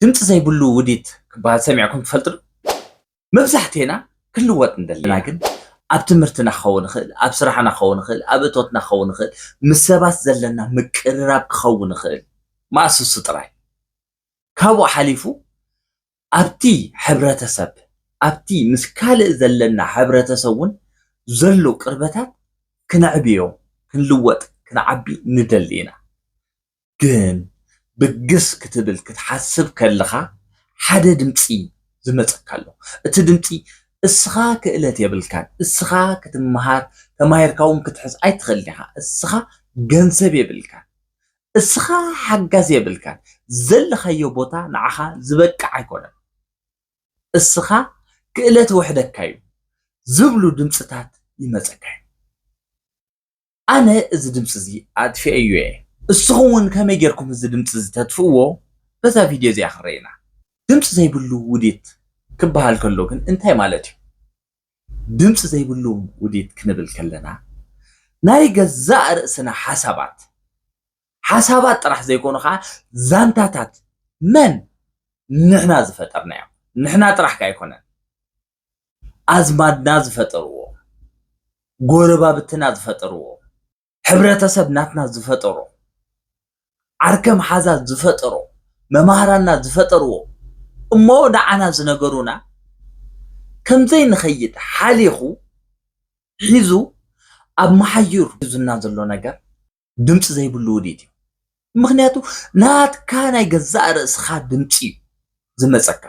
ድምፂ ዘይብሉ ውዲት ክበሃል ሰሚዕኩም ትፈልጡ ዶ? መብዛሕቲኤና ክንልወጥ ንደሊ ኢና ግን ኣብ ትምህርትና ክኸውን ይኽእል፣ ኣብ ስራሕና ክኸውን ይኽእል፣ ኣብ እቶትና ክኸውን ይኽእል፣ ምስ ሰባት ዘለና ምቅርራብ ክኸውን ይኽእል፣ መኣስ እሱ ጥራይ ካብኡ ሓሊፉ ኣብቲ ሕብረተሰብ ኣብቲ ምስ ካልእ ዘለና ሕብረተሰብ እውን ዘሎ ቅርበታት ክነዕብዮ ክንልወጥ ክንዓቢ ንደሊ ኢና። ግን ብግስ ክትብል ክትሓስብ ከልኻ ሓደ ድምጺ ዝመጸካ ኣሎ እቲ ድምጺ እስኻ ክእለት የብልካን እስኻ ክትመሃር ተማሂርካ ውን ክትሕዝ ኣይትኽእልን ኢኻ እስኻ ገንዘብ የብልካን እስኻ ሓጋዝ የብልካን ዘለኻዮ ቦታ ንዓኻ ዝበቅዕ ኣይኮነን እስኻ ክእለት ወሕደካ እዩ ዝብሉ ድምጽታት ይመጸካ እዩ ኣነ እዚ ድምፂ እዚ ኣጥፊኤዮ እየ እስኹም እውን ከመይ ጌርኩም እዚ ድምፂ እዚ ተጥፍእዎ በዛ ቪድዮ እዚኣ ክንረኢ ኢና ድምፂ ዘይብሉ ውዲት ክበሃል ከሎ ግን እንታይ ማለት እዩ ድምፂ ዘይብሉ ውዲት ክንብል ከለና ናይ ገዛእ ርእስና ሓሳባት ሓሳባት ጥራሕ ዘይኮኑ ከዓ ዛንታታት መን ንሕና ዝፈጠርናዮ ንሕና ጥራሕካ ኣይኮነን ኣዝማድና ዝፈጠርዎ፣ ጎረባብትና ዝፈጠርዎ፣ ሕብረተሰብ ናትና ዝፈጠሮ፣ ዓርከ መሓዛ ዝፈጠሮ፣ መማህራንና ዝፈጠርዎ እሞ ንዓና ዝነገሩና ከም ዘይንኸይድ ሓሊኹ ሒዙ ኣብ መሓዩር ሒዙና ዘሎ ነገር፣ ድምፂ ዘይብሉ ውዲት እዩ። ምክንያቱ ናትካ ናይ ገዛእ ርእስኻ ድምፂ እዩ ዝመፀካ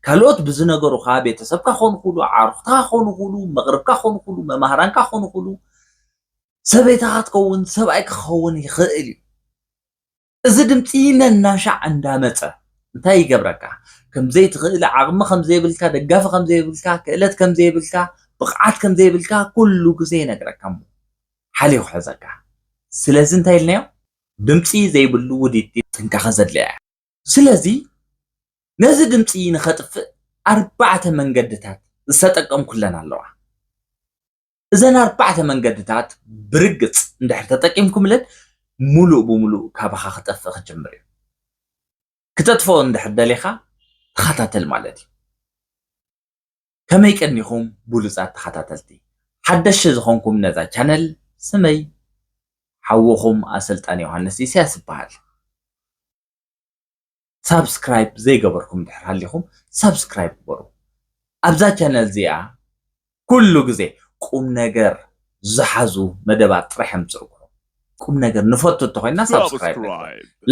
ካልኦት ብዝነገሩኻ ቤተሰብካ ክኾኑ ክሉ ዓርኽታ ክኾኑ ክሉ መቕርብካ ክኾኑ ክሉ መማህራንካ ክኾኑ ክሉ ሰበይታኻ ትኸውን ሰብኣይ ክኸውን ይኽእል እዩ እዚ ድምፂ ነናሻዕ እንዳመፀ እንታይ ይገብረካ ከምዘይትኽእል ዓቕሚ ከምዘይብልካ ደጋፊ ከምዘይብልካ ክእለት ከምዘይብልካ ብቕዓት ከምዘይብልካ ኩሉ ግዜ ይነግረካ እሞ ሓልዩ ክሕዘካ ስለዚ እንታይ ኢልናዮ ድምጺ ዘይብሉ ውዲት ጥንቃቀ ዘድልያ እያ ስለዚ ነዚ ድምጺ ንከጥፍእ ኣርባዕተ መንገድታት ዝተጠቀምኩለን ኣለዋ እዘን ኣርባዕተ መንገድታት ብርግጽ እንድሕር ተጠቂምኩምለን ሙሉእ ብሙሉእ ካባካ ክጠፍእ ክጅምር እዩ ክተጥፍኦ እንድሕር ደሊካ ተኸታተል ማለት እዩ ከመይ ቀኒኹም ብሉጻት ተኸታተልቲ ሓደሽ ዝኾንኩም ነዛ ቻነል ስመይ ሓውኹም ኣሰልጣን ዮሃንስ ኢሳያስ ይበሃል ሳብስክራይብ ዘይገበርኩም ድሕር ሃሊኹም ሳብስክራይብ ግበሩ ኣብዛ ቻነል እዚኣ ኩሉ ግዜ ቁም ነገር ዝሓዙ መደባት ጥራሕ ምፅእኩ ቁም ነገር ንፈቱ እንተኮይና ሳብስክራይብ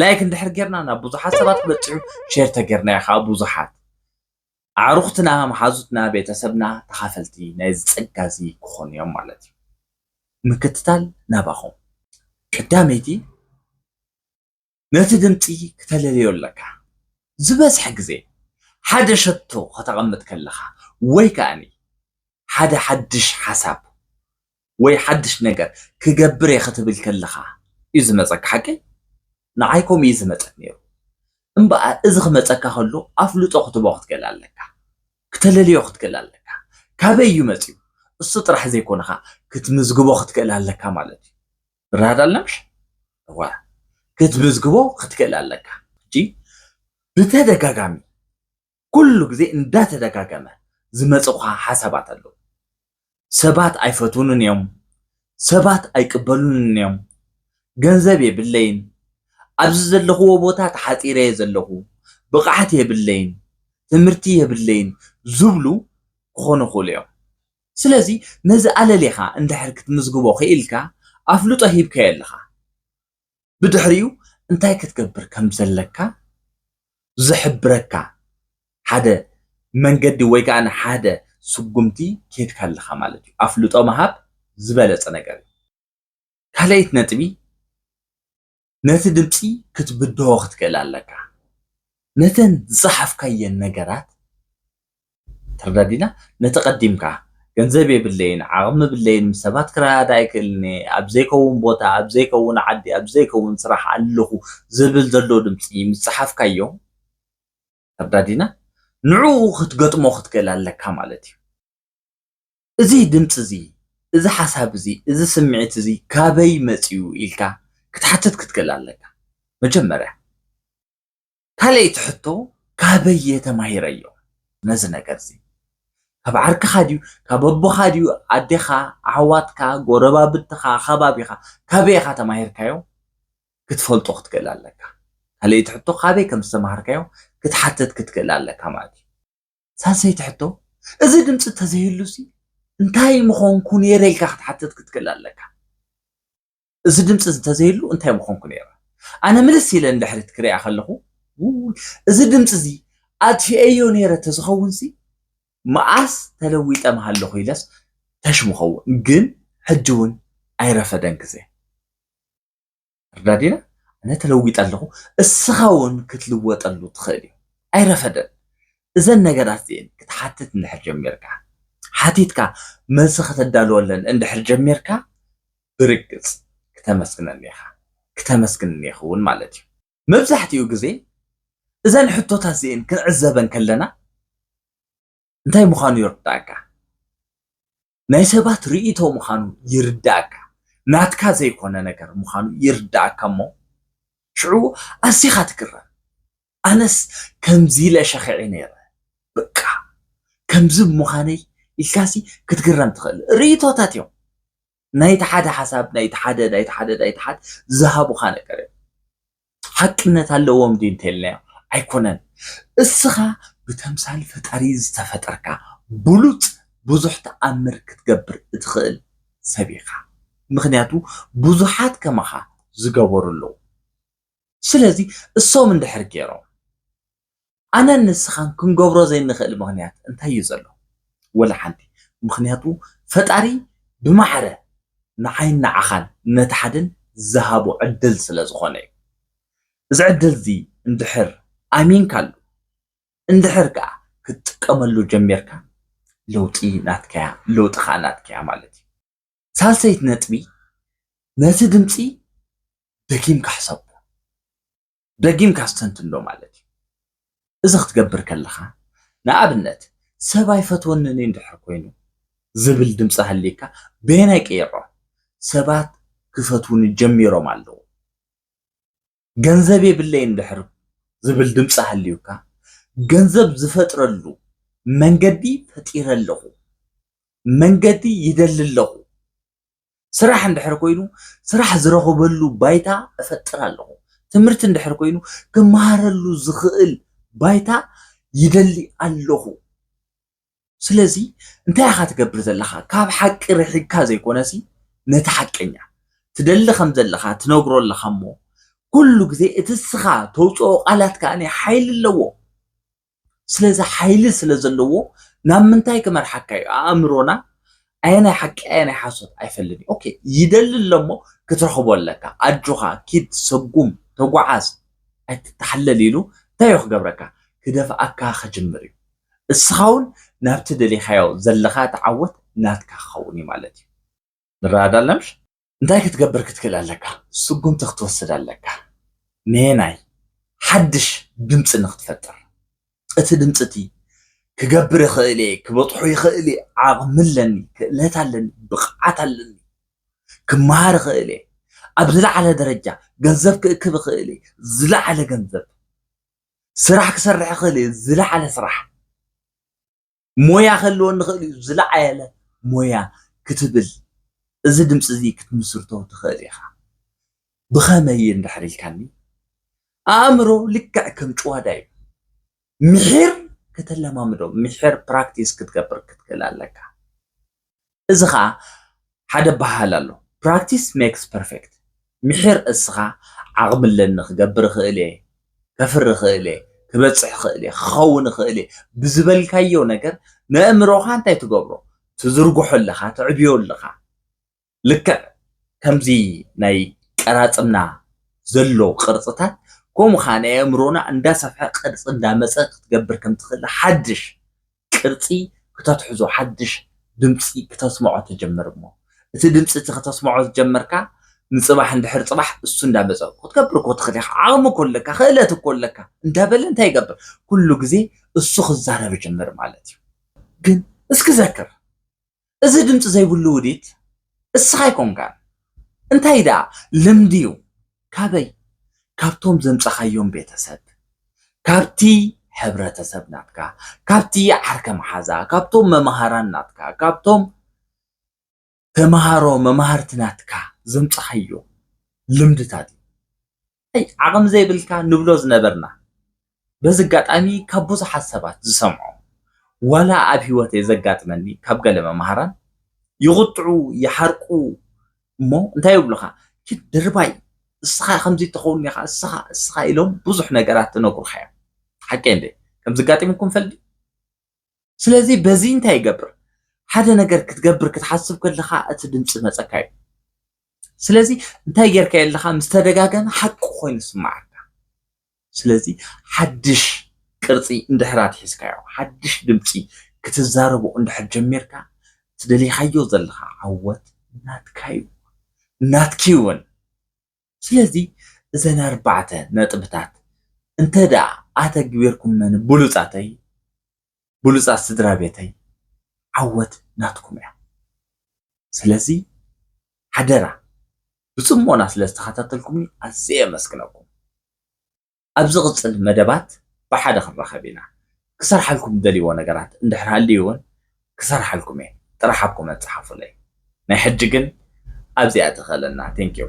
ላይክ እንድሕር ጌርና ናብ ብዙሓት ሰባት ክበፅሑ ሼር ተጌርና ከዓ ብዙሓት ኣዕሩኽትና፣ መሓዙትና፣ ቤተሰብና ተኻፈልቲ ናይዚ ጸጋ እዚ ክኾኑ እዮም ማለት እዩ። ምክትታል ናባኹም። ቀዳመይቲ ነቲ ድምጺ ክተለልዮ ኣለካ። ዝበዝሐ ግዜ ሓደ ሸቶ ከተቐምጥ ከለኻ ወይ ከኣኒ ሓደ ሓድሽ ሓሳብ ወይ ሓድሽ ነገር ክገብር እየ ክትብል ከለኻ እዩ ዝመጸካ ሓቀይ? ንዓይ ከምኡ እዩ ዝመጸኒ ነይሩ እምበኣር እዚ ክመጸካ ከሎ ኣፍልጦ ክትቦ ክትገል ኣለካ ክተለልዮ ክትክእል ኣለካ ካበይ እዩ መጺኡ እሱ ጥራሕ ዘይኮነ ኸኣ ክትምዝግቦ ክትክእል ኣለካ ማለት እዩ ብራድ ኣለምሽ እወ ክትምዝግቦ ክትክእል ኣለካ ሕጂ ብተደጋጋሚ ኩሉ ግዜ እንዳተደጋገመ ዝመጹኻ ሓሳባት ኣለዉ። ሰባት ኣይፈትዉንን እዮም፣ ሰባት ኣይቅበሉንን እዮም፣ ገንዘብ የብለይን፣ ኣብዚ ዘለኽዎ ቦታ ተሓጺረ'የ ዘለኹ፣ ብቕዓት የብለይን፣ ትምህርቲ የብለይን ዝብሉ ክኾኑ ይኽእሉ እዮም። ስለዚ ነዚ ኣለሊኻ እንድሕር ክትምዝግቦ ክኢልካ ኣፍልጦ ሂብካዮ ኣለኻ። ብድሕሪኡ እንታይ ክትገብር ከም ዘለካ ዝሕብረካ ሓደ መንገዲ ወይ ከኣ ሓደ ስጉምቲ ኬድካ ኣለኻ ማለት እዩ። ኣፍልጦ ምሃብ ዝበለጸ ነገር እዩ። ካልኣይቲ ነጥቢ ነቲ ድምጺ ክትብድሆ ክትክእል ኣለካ። ነተን ዝጸሓፍካየን ነገራት ተረዳዲና ነቲ ቀዲምካ ገንዘብ የብለይን ዓቅሚ የብለይን ምስ ሰባት ክረዳዳእ ኣይክእልን እየ ኣብ ዘይከውን ቦታ ኣብ ዘይከውን ዓዲ ኣብ ዘይከውን ስራሕ ኣለኹ ዝብል ዘሎ ድምጺ ምስ ጸሓፍካዮ ተረዳዲና ንዕኡ ክትገጥሞ ክትክእል ኣለካ ማለት እዩ እዚ ድምጺ እዚ እዚ ሓሳብ እዚ እዚ ስምዒት እዚ ካበይ መጽዩ ኢልካ ክትሓትት ክትክእል ኣለካ መጀመርያ ካልኣይቲ ሕቶ ካበይ እየ ተማሂረዮ ነዚ ነገር እዚ ካብ ዓርክኻ ድዩ ካብ ኣቦኻ ድዩ ኣዴኻ ኣሕዋትካ ጎረባብትኻ ከባቢኻ ካበይ ኢኻ ተማሂርካዮ ክትፈልጦ ክትክእል ኣለካ ካልኣይቲ ሕቶ ካበይ ከም ዝተማሃርካዮ ክትሓትት ክትክእል ኣለካ ማለት እዩ ሳልሰይቲ ሕቶ እዚ ድምፂ ተዘይህሉሲ እንታይ ምኾንኩ ነይረ ኢልካ ክትሓትት ክትክእል ኣለካ እዚ ድምፂ እዚ እንተዘይህሉ እንታይ ምኾንኩ ነይረ? ኣነ ምልስ ኢለ ንድሕሪት ክሪኣ ከለኹ እዚ ድምፂ እዚ ኣጥፊኤዮ ነይረ ተዝኸውንሲ መኣስ ተለዊጠ ምሃለኹ ኢለስ ተሽ ምኸውን ግን ሕጂ እውን ኣይረፈደን ግዜ ርዳዲና ኣነ ተለዊጠ ኣለኹ እስኻ እውን ክትልወጠሉ ትኽእል እዩ ኣይረፈደን እዘን ነገራት እዚኤን ክትሓትት እንድሕር ጀሚርካ፣ ሓቲትካ መልሲ ከተዳልወለን እንድሕር ጀሚርካ፣ ብርግጽ ክተመስግነኒ ኢኻ፣ ክተመስግንኒ ኢኺ እውን ማለት እዩ። መብዛሕትኡ ግዜ እዘን ሕቶታት እዚኤን ክንዕዘበን ከለና እንታይ ምዃኑ ይርድኣካ። ናይ ሰባት ርእይቶ ምዃኑ ይርድኣካ፣ ናትካ ዘይኮነ ነገር ምዃኑ ይርድኣካ እሞ ሽዑ ኣዚኻ ትግረም። ኣነስ ከምዚ ኢለ ሸኺዐ ነይረ በቃ ከምዚ ብምዃነይ ኢልካሲ ክትግረም ትኽእል። ርእይቶታት እዮም። ናይቲ ሓደ ሓሳብ ናይቲ ሓደ ናይቲ ሓደ ናይቲ ሓደ ዝሃቡኻ ነገር እዮም። ሓቅነት ኣለዎም ድዩ እንተኢልናዮ ኣይኮነን እስኻ ብተምሳል ፈጣሪ ዝተፈጠርካ ብሉጽ ብዙሕ ተኣምር ክትገብር እትኽእል ሰብ ኢኻ ምኽንያቱ ብዙሓት ከማኻ ዝገበሩ ኣለዉ ስለዚ እሶም እንድሕር ጌሮም ኣነን ንስኻን ክንገብሮ ዘይንኽእል ምኽንያት እንታይ እዩ ዘሎ? ወላ ሓንቲ። ምኽንያቱ ፈጣሪ ብማዕረ ንዓይን ንዓኻን ነቲ ሓደን ዝሃቦ ዕድል ስለ ዝኾነ እዩ። እዚ ዕድል እዚ እንድሕር ኣሚንካሉ፣ እንድሕር ከኣ ክትጥቀመሉ ጀሚርካ ለውጢ ናትካ እያ፣ ለውጢ ከኣ ናትኪ እያ ማለት እዩ። ሳልሰይቲ ነጥቢ፣ ነቲ ድምጺ ደጊምካ ሕሰቦ። ደጊምካ ኣስተንትኖ ማለት እዩ። እዚ ክትገብር ከለኻ፣ ንኣብነት፣ ሰብ ኣይፈትወንን እዩ እንድሕር ኮይኑ ዝብል ድምጺ ሃልይካ፣ በየናይ ቀይሮ ሰባት ክፈትዉኒ ጀሚሮም ኣለዉ? ገንዘብ የብለይን እንድሕር ዝብል ድምጺ ሃልዩካ፣ ገንዘብ ዝፈጥረሉ መንገዲ ፈጢረ ኣለኹ፣ መንገዲ ይደሊ ኣለኹ፣ ስራሕ እንድሕር ኮይኑ ስራሕ ዝረኽበሉ ባይታ እፈጥር ኣለኹ። ትምህርቲ እንድሕር ኮይኑ ክመሃረሉ ዝኽእል ባይታ ይደሊ ኣለኹ። ስለዚ እንታይ ኢኻ ትገብር ዘለኻ ካብ ሓቂ ርሒቅካ ዘይኮነሲ ነቲ ሓቀኛ ትደሊ ከም ዘለኻ ትነግሮ ኣለኻ እሞ ኩሉ ግዜ እቲ ስኻ ተውፅኦ ቃላት ከዓኒ ሓይሊ ኣለዎ። ስለዚ ሓይሊ ስለ ዘለዎ ናብ ምንታይ ክመርሓካ እዩ ኣእምሮና ኣየናይ ሓቂ ኣየናይ ሓሶት ኣይፈልን እዩ ኦኬ ይደሊ ኣለሞ ክትረኽቦ ኣለካ ኣጆኻ ኪድ ሰጉም ተጓዓዝ ኣይትተሓለል ኢሉ እንታይ እዩ ክገብረካ ክደፍኣካ ክጅምር እዩ እስኻ እውን ናብቲ ደሊኻዮ ዘለኻ ተዓወት ናትካ ክኸውን እዩ ማለት እዩ ንረዳለምሽ እንታይ ክትገብር ክትክእል ኣለካ? ስጉምቲ ክትወስድ ኣለካ። ነየናይ? ሓድሽ ድምጺ ንክትፈጥር። እቲ ድምጺ እቲ ክገብር ይኽእል እየ፣ ክበጽሖ ይኽእል እየ፣ ዓቕሚ ኣለኒ፣ ክእለት ኣለኒ፣ ብቕዓት ኣለኒ፣ ክመሃር ይኽእል እየ፣ ኣብ ዝለዓለ ደረጃ ገንዘብ ክእክብ ይኽእል እየ፣ ዝለዓለ ገንዘብ፣ ስራሕ ክሰርሕ ይኽእል እየ፣ ዝለዓለ ስራሕ። ሞያ ክህልወኒ ይኽእል እዩ ዝለዓለ ሞያ ክትብል እዚ ድምፂ እዚ ክትምስርቶ ትኽእል ኢኻ ብኸመይ እንድሕር ኢልካኒ ኣእምሮ ልክዕ ከም ጭዋዳ እዩ ምሒር ከተለማምዶ ምሒር ፕራክቲስ ክትገብር ክትክእል ኣለካ እዚ ኸኣ ሓደ ኣበሃህላ ኣሎ፣ Practice makes perfect፣ ምሒር እስኻ ዓቕሚ ኣለኒ፣ ክገብር እኽእል እየ፣ ከፍሪ እኽእል እየ፣ ክበጽሕ እኽእል እየ፣ ክኸውን እኽእል እየ ብዝበልካዮ ነገር ነእምሮኻ እንታይ ትገብሮ? ትዝርግሖ ኣለኻ፣ ተዕብዮ ኣለኻ። ልክዕ ከምዚ ናይ ቀራጽምና ዘሎ ቅርጽታት ከምኡ ኸኣ ናይ ኣእምሮና እንዳሰፍሐ ቅርጺ እንዳመጸ ክትገብር ከም ትኽእል ሓድሽ ቅርጺ ክተትሕዞ ሓድሽ ድምጺ ክተስምዖ ትጅምር እሞ እቲ ድምጺ እቲ ክተስምዖ ዝጀመርካ ንጽባሕ እንድሕር ጽባሕ እሱ እንዳመጸ ክትገብር እኮ ትኽእል ኢኻ ዓቕሚ እኮ ኣለካ ክእለት እኮ ኣለካ እንዳበለ እንታይ ይገብር ኩሉ ግዜ እሱ ክዛረብ ይጅምር ማለት እዩ ግን እስኪ ዘክር እዚ ድምፂ ዘይብሉ ውዲት እስኻ ኣይኮንካን እንታይ ድኣ ልምዲ ዩ ካበይ ካብቶም ዘምፀኻዮም ቤተሰብ ካብቲ ሕብረተሰብ ናትካ ካብቲ ዓርከ መሓዛ ካብቶም መምሃራን ናትካ ካብቶም ተምሃሮ መማህርቲ ናትካ ዘምፀኻዮ ልምድታት ዩ ኣይ ዓቕሚ ዘይብልካ ንብሎ ዝነበርና በዚ ኣጋጣሚ ካብ ብዙሓት ሰባት ዝሰምዖ ዋላ ኣብ ሂወተይ ዘጋጥመኒ ካብ ገለ መማህራን ይቑጥዑ ይሓርቁ እሞ እንታይ ይብሉኻ ኪድ ድርባይ እስኻ ከምዚ እተኸውን ኢኻ እስኻ እስኻ ኢሎም ብዙሕ ነገራት ትነግሩኻ እዮም ሓቀይ እንዴ ከምዚ ኣጋጢሙኩም ፈልጥ ስለዚ በዚ እንታይ ይገብር ሓደ ነገር ክትገብር ክትሓስብ ከለኻ እቲ ድምፂ መፀካ እዩ ስለዚ እንታይ ጌርካ የለኻ ምስ ተደጋገመ ሓቂ ኮይኑ ስማዓካ ስለዚ ሓድሽ ቅርፂ እንድሕር ኣትሒዝካዮ ሓድሽ ድምፂ ክትዛረቦ እንድሕር ጀሚርካ ትደሊኻዮ ዘለኻ ዓወት ናትካ እዩ ናትኪ እውን ስለዚ እዘን ኣርባዕተ ነጥብታት እንተድኣ ኣተግቢርኩመን ብሉጻተይ ብሉጻት ስድራቤተይ ዓወት ናትኩም እያ ስለዚ ሓደራ ብጽሞና ስለ ዝተኸታተልኩምኒ ኣዝየ የመስግነኩም ኣብ ዝቕጽል መደባት ብሓደ ክንራኸብ ኢና ክሰርሓልኩም ዝደልይዎ ነገራት እንድሕር ሃልዩ እውን ክሰርሓልኩም እየ ጥራሕ ኣብ ኮመንት ጸሓፉለይ ናይ ሕጂ ግን ኣብዚኣ ተኸለና ቴንኪው